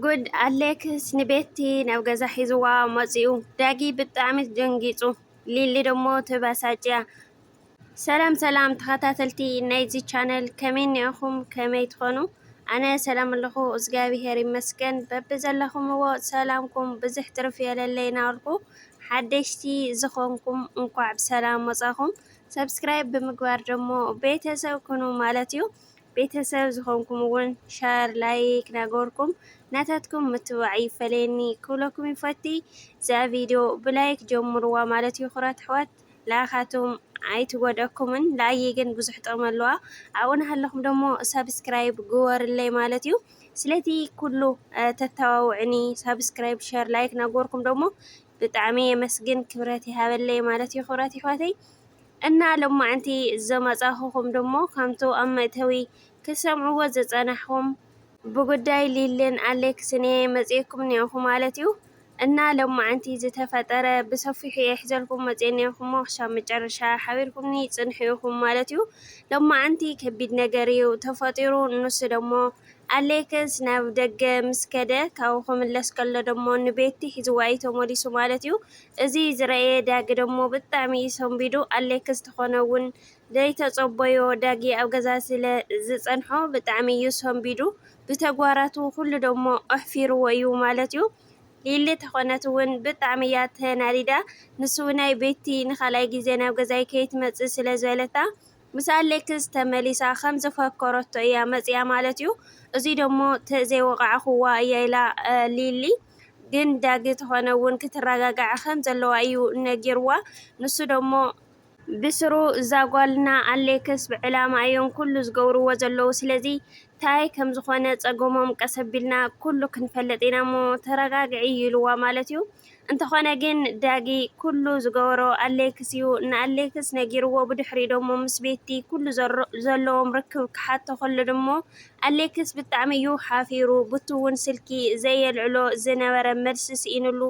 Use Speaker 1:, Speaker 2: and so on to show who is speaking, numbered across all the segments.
Speaker 1: ጉድ ኣሌክስ ንቤቲ ናብ ገዛ ሒዝዋ መፂኡ ዳጊ ብጣዕሚ ደንጊፁ ሊሊ ደሞ ተበሳጭያ ሰላም ሰላም ተከታተልቲ ናይዚ ቻነል ከመይ እኒኣኩም ከመይ ትኮኑ ኣነ ሰላም ኣለኩ እዝጋቢሄር ይመስገን በብዘለኩምዎ ሰላምኩም ብዝሕ ትርፍ የለለይ ናበልኩ ሓደሽቲ ዝኮንኩም እንኳዕ ብሰላም መፃኩም ሰብስክራይብ ብምግባር ደሞ ቤተሰብ ኩኑ ማለት እዩ ቤተሰብ ዝኮንኩም ውን ሸር ላይክ ናገበርኩም ናታትኩም ምትብባዕ ይፈለየኒ ክብለኩም ይፈቲ እዛ ቪድዮ ብላይክ ጀምርዋ ማለት ይኩራት ኣሕዋት ላካቱም ኣይትጎድኣኩምን ንኣየ ግን ብዙሕ ጥቅሚ ኣለዋ ኣብኡ ናሃለኩም ደሞ ሳብስክራይብ ግበሩለይ ማለት እዩ ስለቲ ኩሉ ተተባብዑኒ ሳብስክራይብ ሸር ላይክ ናገበርኩም ደሞ ብጣዕሚ የመስግን ክብረት ይሃበለይ ማለት እዩ ክብረት ይሕዋተይ እና ሎማዕንቲ ዘመፃኹኹም ድሞ ከምቱ ኣብ መእተዊ ክትሰምዕዎ ዝፀናሕኹም ብጉዳይ ሊሊን ኣሌክስን እየ መፂኤኩም እኒኤኹ ማለት እዩ እና ሎማዕንቲ ዝተፈጠረ ብሰፊሑ እየ ሒዘልኩም መፂኤ እኒኤኹሞ ክሳብ መጨረሻ ሓቢርኩምኒ ፅንሑ ኢኹም ማለት እዩ ሎማዕንቲ ከቢድ ነገር እዩ ተፈጢሩ ንሱ ድሞ ኣሌክስ ናብ ደገ ምስ ከደ ካብኡ ክምለስ ከሎ ድሞ ንቤቲ ሒዝዋ እዩ ተመሊሱ ማለት እዩ እዚ ዝረኣየ ዳጊ ደሞ ብጣዕሚ እዩ ሰንቢዱ ኣሌክስ ተኾነ እውን ዘይተፀቦዮ ዳጊ ኣብ ገዛ ስለ ዝፀንሖ ብጣዕሚ እዩ ሰንቢዱ ብተግባራቱ ኩሉ ደሞ ኣሕፊርዎ እዩ ማለት እዩ ሊሊ ተኾነት እውን ብጣዕሚ እያ ተናዲዳ ንሱ ናይ ቤቲ ንካልኣይ ግዜ ናብ ገዛይ ከይትመፅእ ስለ ዝበለታ ምስ ኣሌክስ ተመሊሳ ከም ዘፈከረቶ እያ መጺኣ ማለት እዩ እዙይ ደሞ ተዘይወቓዕኹዋ እያ ኢላ ሊሊ ግን ዳጊ ተኾነ እውን ክትረጋጋዕ ከም ዘለዋ እዩ ነጊርዋ ንሱ ደሞ ብስሩ እዛ ጓልና ኣሌክስ ብዕላማ እዮም ኩሉ ዝገብርዎ ዘለዉ ስለዚ ታይ ከም ዝኾነ ጸገሞም ቀስ ኣቢልና ኩሉ ክንፈልጥ ኢና እሞ ተረጋግዒ ኢልዋ ማለት እዩ። እንተኾነ ግን ዳጊ ኩሉ ዝገበሮ ኣሌክስ ዩ ንኣሌክስ ነጊርዎ ብድሕሪኡ ደሞ ምስ ቤቲ ኩሉ ዘለዎም ርክብ ክሓቶ ከሎ ደሞ ኣሌክስ ብጣዕሚ ዩ ሓፊሩ ቡቲ ውን ስልኪ ዘየልዕሎ ዝነበረ መልሲ ስኢንሉ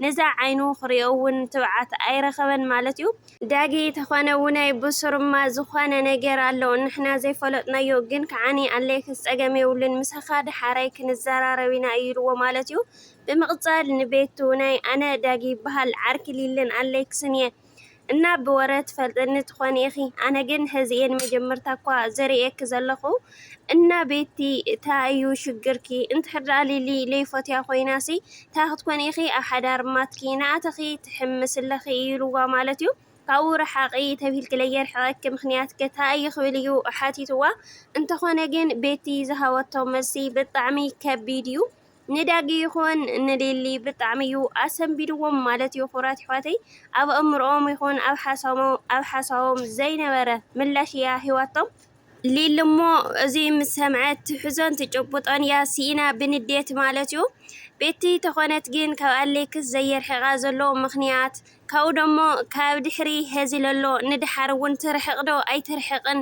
Speaker 1: ነዛ ዓይኑ ክሪኦ ውን ትብዓት ኣይረኸበን ማለት ዩ ዳጊ ተኾነ ውነይ ቡሱርማ ዝኾነ ነገር ኣሎ ንሕና ዘይፈለጥናዮ ግን ክዓኒ ኣሌክስ ፀገም የብሉን ምሳኻ ዳሓራይ ክንዘራረብ ኢና ኢልዎ ማለት ዩ ብምቅጻል ንቤቱ ናይ ኣነ ዳጊ ይብሃል ዓርኪ ሊልን ኣለክስን እየ እና ብወረ ትፈልጥኒ ትኮኒ ኢኪ ኣነ ግን ሀዚ እየ ንመጀመርታ እኳ ዝርእየኪ ዘለኩ እና ቤቲ ታይ እዩ ሽግርኪ እንድሕር ሊሊ ለይፎትያ ኮይናሲ ታይ ክትኮኒ ኢኪ ኣብ ሓዳር ማትኪ እናኣተኪ ትሕምሲ ኣለኪ ኢሉዋ ማለት እዩ ካብኡ ርሓቒ ተብሂልኪ ለየርሕቐኪ ምኽንያትከ እንታይ እዩ ክብል እዩ ሓቲትዋ። እንተኾነ ግን ቤቲ ዝሃበቶ መልሲ ብጣዕሚ ከቢድ እዩ። ንዳጊ ይኹን ንሊሊ ብጣዕሚ እዩ ኣሰንቢድዎም ማለት እዩ ኩራት ይሕዋተይ ኣብ ኣእምሮኦም ይኹን ኣብ ሓሳቦም ኣብ ሓሳቦም ዘይነበረ ምላሽ እያ ሂዋቶም ሊሊ እሞ እዚ ምስ ሰምዐት ትሕዞን ትጭብጦን እያ ሲኢና ብንዴት ማለት እዩ ቤቲ ተኾነት ግን ካብ ኣሌክስ ዘየርሕቃ ዘሎ ምኽንያት ካብኡ ደሞ ካብ ድሕሪ ሀዚ ለሎ ንደሓር እውን ትርሕቅ ዶ ኣይትርሕቅን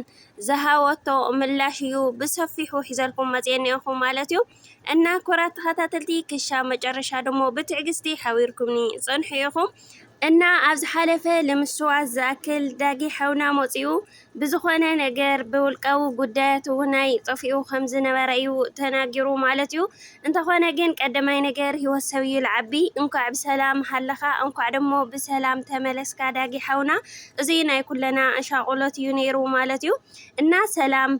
Speaker 1: ዝሃበቶ ምላሽ እዩ ብሰፊሑ ሒዘልኩም መፅየ እኒኦኹ ማለት እዩ እና ኩራት ተኸታተልቲ ክሻ መጨረሻ ደሞ ብትዕግስቲ ሓቢርኩምኒ ፅንሑ ኢኹም እና ኣብ ዝሓለፈ ልምስዋስ ዝኣክል ዳጊ ሓውና መፂኡ ብዝኾነ ነገር ብውልቃዊ ጉዳያቱ'ውን ኣይጠፍኡ ከም ዝነበረ'ዩ ተናጊሩ ማለት'ዩ። እንተኾነ ግን ቀደማይ ነገር ህይወት ሰብ'ዩ ልዓቢ። እንኳዕ ብሰላም ሃለኻ እንኳዕ ደሞ ብሰላም ተመለስካ ዳጊ ሓውና። እዙይ ናይ ኩለና ሻቕሎት'ዩ ነይሩ ማለት'ዩ። እና ሰላም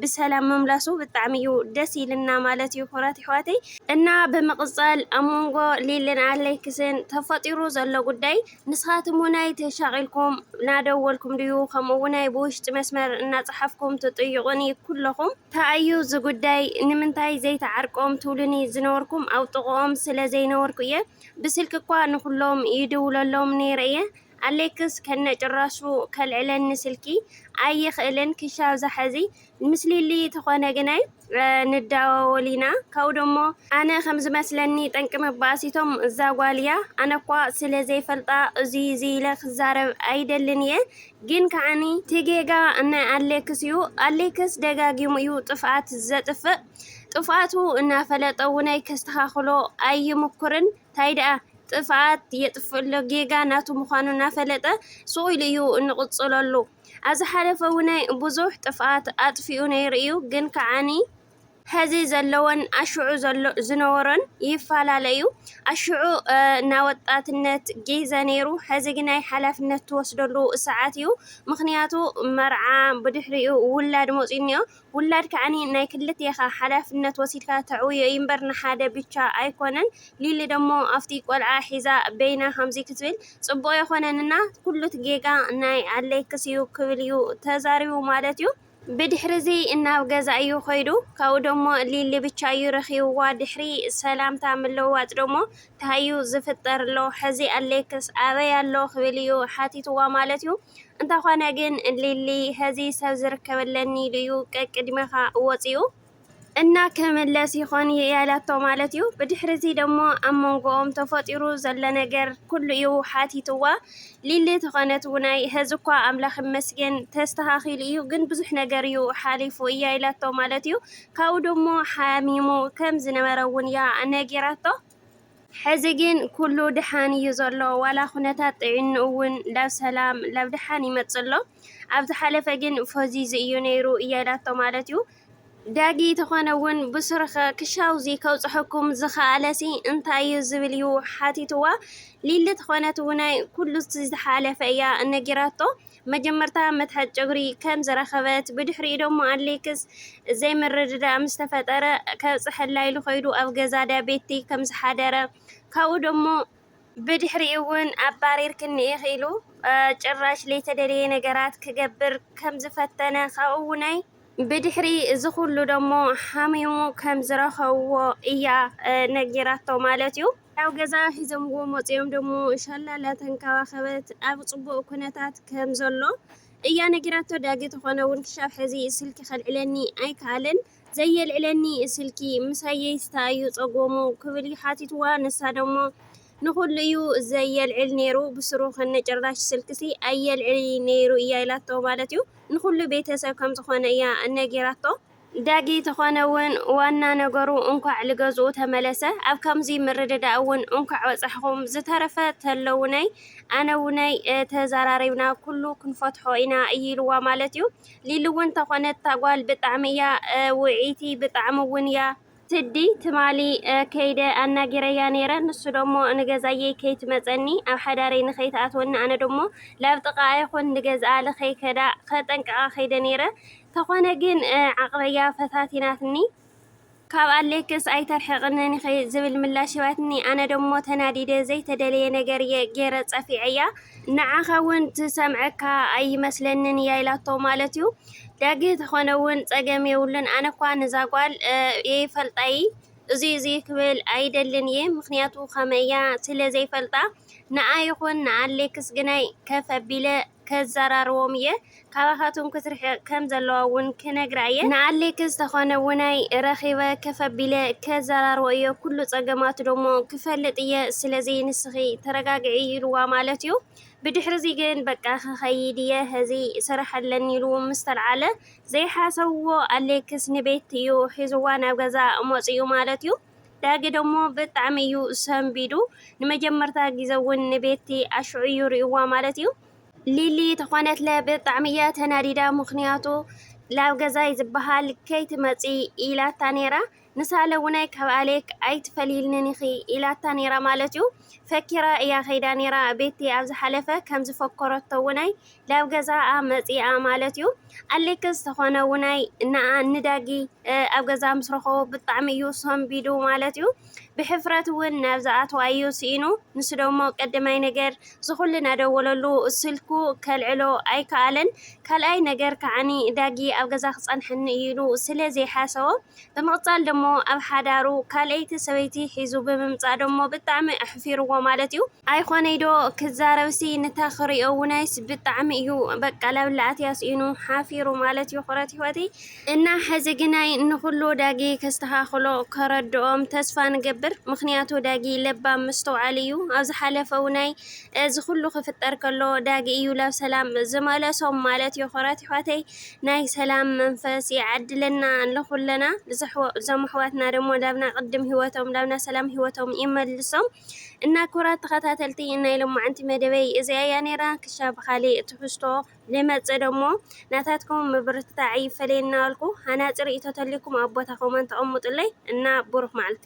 Speaker 1: ብሰላም ምምላሱ ብጣዕሚ'ዩ ደስ ኢሉና ማለት'ዩ ክብራት ኣሕዋተይ። እና ብምቕጻል ኣብ መንጎ ሊልን ኣለክስን ተፈጢሩ ዘሎ ጉዳይ፣ ንስኻትኩም እውን ኣይተሻቒልኩም እናደወልኩም ድዩ ከምኡ እውን ኣይ ብውሽጢ መስመር እናፀሓፍኩም ትጥይቑኒ ኩለኹም ታይ እዩ እዚ ጉዳይ ንምንታይ ዘይተዓርቆም ትብሉኒ ዝነበርኩም ኣብ ጥቕኦም ስለ ዘይነበርኩ እየ ብስልኪ እኳ ንኹሎም ይድውለሎም ነይረ እየ ኣሌክስ ከነጭራሹ ከልዕለኒ ስልኪ ኣይኽእልን ክሻብ ዝሓዚ ምስሊሊ ተኾነ ግናይ ንዳዋወል ኢና ካብኡ ደሞ ኣነ ከም ዝመስለኒ ጠንቂ ምባኣስ እቶም እዛ ጓል እያ ኣነ እኳ ስለ ዘይፈልጣ እዙይ እዙይ ኢለ ክዛረብ ኣይደልን እየ ግን ከዓኒ ትጌጋ ናይ ኣሌክስ እዩ ኣሌክስ ደጋጊሙ እዩ ጥፍኣት ዘጥፍእ ጥፍኣቱ እናፈለጠ እውነይ ከስተኻኽሎ ኣይምኩርን ታይ ደኣ ጥፍኣት የጥፍእሎ ጌጋ ናቱ ምዃኑ እናፈለጠ ስቑኢሉ እዩ እንቕፅለሉ ኣብ ዝሓለፈ እውነ ብዙሕ ጥፍኣት ኣጥፊኡ ነይሩ እዩ ግን ከዓኒ ሐዚ ዘለዎን ኣሽዑ ዝነበሮን ይፈላለ እዩ። ኣሽዑ ናይ ወጣትነት ጊዘ ነይሩ ሐዚ ግን ናይ ሓላፍነት ትወስደሉ ሰዓት እዩ። ምክንያቱ መርዓ ብድሕሪኡ ውላድ መፂኡ እኒኦ። ውላድ ከዓኒ ናይ ክልቴኻ ሓላፍነት ወሲድካ ተዕውዮ እዩ እምበር ንሓደ ብቻ ኣይኮነን ሊሊ ደሞ ኣፍቲ ቆልዓ ሒዛ በይና ከምዚ ክትብል ጽቡቅ የኮነን እና ኩሉት ጌጋ ናይ ኣለክስ እዩ ክብል እዩ ተዛሪቡ ማለት እዩ ብድሕሪ እዚ ናብ ገዛ እዩ ከይዱ ካብኡ ደሞ ሊሊ ብቻ እዩ ረኪብዋ ድሕሪ ሰላምታ ምልውዋጥ ደሞ ታሃዩ ዝፍጠር ኣሎ ሕዚ ኣለክስ ኣበይ ኣሎ ክብል እዩ ሓቲትዋ ማለት እዩ እንተኾነ ግን ሊሊ ሀዚ ሰብ ዝርከበለኒ ኢሉ'ዩ ቀቅድሜኻ ወጺኡ። እና ክምለስ ይኾን ያላቶ ማለት'ዩ። ብድሕሪ'ዚ ደሞ ኣብ መንጎኦም ተፈጢሩ ዘሎ ነገር ኩሉ'ዩ ሓቲትዋ። ሊሊ ተኾነት ውናይ ሀዚ'ኳ ኣምላኽ ይመስገን ተስተኻኺሉ'ዩ ግን ብዙሕ ነገር'ዩ ሓሊፉ እያ ኢላቶ ማለት'ዩ። ካብኡ ደሞ ሓሚሙ ከም ዝነበረ'ውን'ያ ነጊራቶ። ሕዚ ግን ኩሉ ድሓን እዩ ዘሎ ዋላ ኩነታት ጥዒንኡ ውን ላብ ሰላም ላብ ድሓን ይመጽእ ኣሎ ኣብ ዝሓለፈ ግን ፎዚዙ እዩ ነይሩ እያ ኢላቶ ማለት እዩ ዳጊ ተኾነ ውን ብሱርኸ ክሻውዚ ከብጽሐኩም ዝኸኣለሲ እንታይ እዩ ዝብል እዩ ሓቲትዋ ሊሊ ተኾነት ውናይ ኩሉ ዝሓለፈ እያ ነጊራቶ መጀመርታ መትሓዚ ጨጉሪ ከም ዝረኸበት፣ ብድሕሪኡ ደሞ ኣሌክስ ዘይምርድዳእ ምስ ተፈጠረ ከብጽሐላ ኢሉ ከይዱ ኣብ ገዛ ዳቤቲ ከም ዝሓደረ፣ ካብኡ ደሞ። ብድሕሪኡ'ውን ኣባሪርክኒ ኢኺ ኢሉ ጭራሽ ለይተደለየ ነገራት ክገብር ከም ዝፈተነ፣ ካብኡ'ውናይ። ብድሕሪ እዚ ኩሉ ደሞ ሓሚሙ ከም ዝረኸብዎ እያ ነጊራቶ ማለት እዩ። ናብ ገዛ ሒዘምዎ መጺኦም ደሞ ሻላ ላተንከባኸበት ኣብ ጽቡቕ ኩነታት ከም ዘሎ እያ ነጊራቶ። ዳጊ ተኾነ ውን ክሻብ ሕዚ ስልኪ ከልዕለኒ ኣይከኣለን። ዘየልዕለኒ ስልኪ ምሳየይስተ ኣዩ ጸጎሙ ክብል እዩ ሓቲትዋ። ንሳ ደሞ ንኹሉ እዩ ዘየልዕል ኔሩ ብስሩ ክኒ ጭራሽ ስልክሲ ኣየልዕሊ ኔሩ እያ ኢላቶ ማለት እዩ ንኹሉ ቤተሰብ ከምዝኾነ እያ ነጊራቶ። ዳጊ ተኾነ ውን ዋና ነገሩ እንኳዕ ልገዝኡ ተመለሰ ኣብ ካምዚ ምርድዳእ ውን እንኳዕ በፃሕኹም ዝተረፈ ተለውነይ ኣነውነይ ተዛራሪብና ኩሉ ክንፈትሖ ኢና እዩ ኢልዋ ማለት እዩ ሊሊ ውን ተኾነት ታጓል ብጣዕሚ እያ ውዕይቲ ብጣዕሚ ውን እያ ስዲ ትማሊ ከይደ ኣናጊረያ ነይረ ንሱ ደሞ ንገዛየይ ከይትመጸኒ ኣብ ሓዳረይ ንከይትኣትወኒ ኣነ ደሞ ላብ ጥቃኣ ይኩን ንገዝኣ ልከይከዳ ከጠንቅቃ ከይደ ነይረ ተኮነ ግን ዓቅበያ ፈታቲናትኒ ካብ ኣሌክስ ኣይተርሕቅንን ኢኪ ዝብል ምላሽ ሂባትኒ ኣነ ደሞ ተናዲደ ዘይተደለየ ነገር እየ ገይረ ጸፊዐያ ንዓካ ውን ትሰምዐካ ኣይመስለንን እያ ኢላቶ ማለት እዩ። ዳጊ ተኾነ ውን ፀገም የብሉን ኣነኳ ንዛ ጓል የይፈልጣ እይ እዙይ እዙይ ክብል ኣይደልን እየ ምክንያቱ ከመያ ስለ ዘይፈልጣ ንኣ ይኹን ንኣሌክስ ግናይ ከፍ ኣቢለ ከዘራርቦም እየ ካባኻቱም ክትርሕቅ ከም ዘለዋ ውን ክነግራ እየ ንኣሌክስ ተኾነ ውናይ ረኺበ ከፍ ኣቢለ ከዘራርቦ እየ ኩሉ ፀገማቱ ደሞ ክፈልጥ እየ ስለዚ ንስኺ ተረጋግዒ ይልዋ ማለት እዩ ብድሕሪ'ዚ ግን በቃ ክኸይድ'የ ሕዚ ስራሕ ኣለኒ ኢሉ ምስ ተልዓለ፣ ዘይሓሰብዎ ኣሌክስ ንቤቲ'ዩ ሒዝዋ ናብ ገዛ መጺኡ ማለት'ዩ። ዳጊ ደሞ ብጣዕሚ'ዩ ሰንቢዱ፣ ንመጀመርታ ግዜ'ውን ንቤቲ ኣሽዑ'ዩ ሪኡዋ ማለት'ዩ። ሊሊ ተኾነትለ ብጣዕሚ'ያ ተናዲዳ፣ ምኽንያቱ ናብ ገዛይ ዝበሃል ከይትመጺ ኢላታ ነይራ። ንሳለ ውናይ ካብ ኣሌክ ኣይትፈልይልንን ኢኺ ኢላታ ነይራ ማለት'ዩ ፈኪራ እያ ከይዳ ነይራ ቤቲ ኣብ ዝሓለፈ ከም ዝፈከረቶ ውናይ ላብ ገዛኣ መጺኣ ማለት'ዩ ኣሌክስ ተኾነ ውናይ ንኣ ንዳጊ ኣብ ገዛ ምስ ረኸቦ ብጣዕሚ እዩ ሰንቢዱ ማለት'ዩ ብሕፍረት እውን ናብ ዝኣትዋ እዩ ስኢኑ ንሱ ደሞ ቀዳማይ ነገር ዝኹሉ ናደወለሉ ስልኩ ከልዕሎ ኣይከኣለን ካልኣይ ነገር ከዓኒ ዳጊ ኣብ ገዛ ክጸንሐኒ እዩ ኢሉ ስለ ዘይሓሰቦ ብምቅጻል ደሞ ኣብ ሓዳሩ ካልኣይቲ ሰበይቲ ሒዙ ብምምጻእ ደሞ ብጣዕሚ ኣሕፊርዎ ማለት እዩ። ኣይኾነይ ዶ ክዛረብሲ ንታ ክሪኦ ውናይስ ብጣዕሚ እዩ በቃ ላብ ላኣትያ ሲኢኑ ሓፊሩ ማለት እዩ ኹረት ሂወተይ እና ሐዚ ግናይ ንኹሉ ዳጊ ከስተኻኽሎ ከረድኦም ተስፋ ንገብር ምኽንያቱ ዳጊ ለባም መስተውዓሊ እዩ ኣብ ዝሓለፈ ውናይ እዚ ኹሉ ክፍጠር ከሎ ዳጊ እዩ ላብ ሰላም ዝመለሶም ማለት እዩ ኹረት ሂወተይ። ናይ ሰላም መንፈስ ይዓድለና ንኩለና እዞም ኣሕዋትና ደሞ ላብና ቅድም ሂወቶም ላብና ሰላም ሂወቶም ይመልሶም እና ኩራት ተኸታተልቲ ናይ ሎማዓንቲ መደበይ እዚኣ እያ ነይራ ክሻ ብኻሊእ ትሕዝቶ ልመጽእ ደሞ ናታትኩም ምብርትታዕ ይፈለየና ኣልኩ ሃናጺ ርእይቶ ተልዩኩም ኣብ ቦታኹም ኣንተቐምጡለይ እና ቡሩኽ መዓልቲ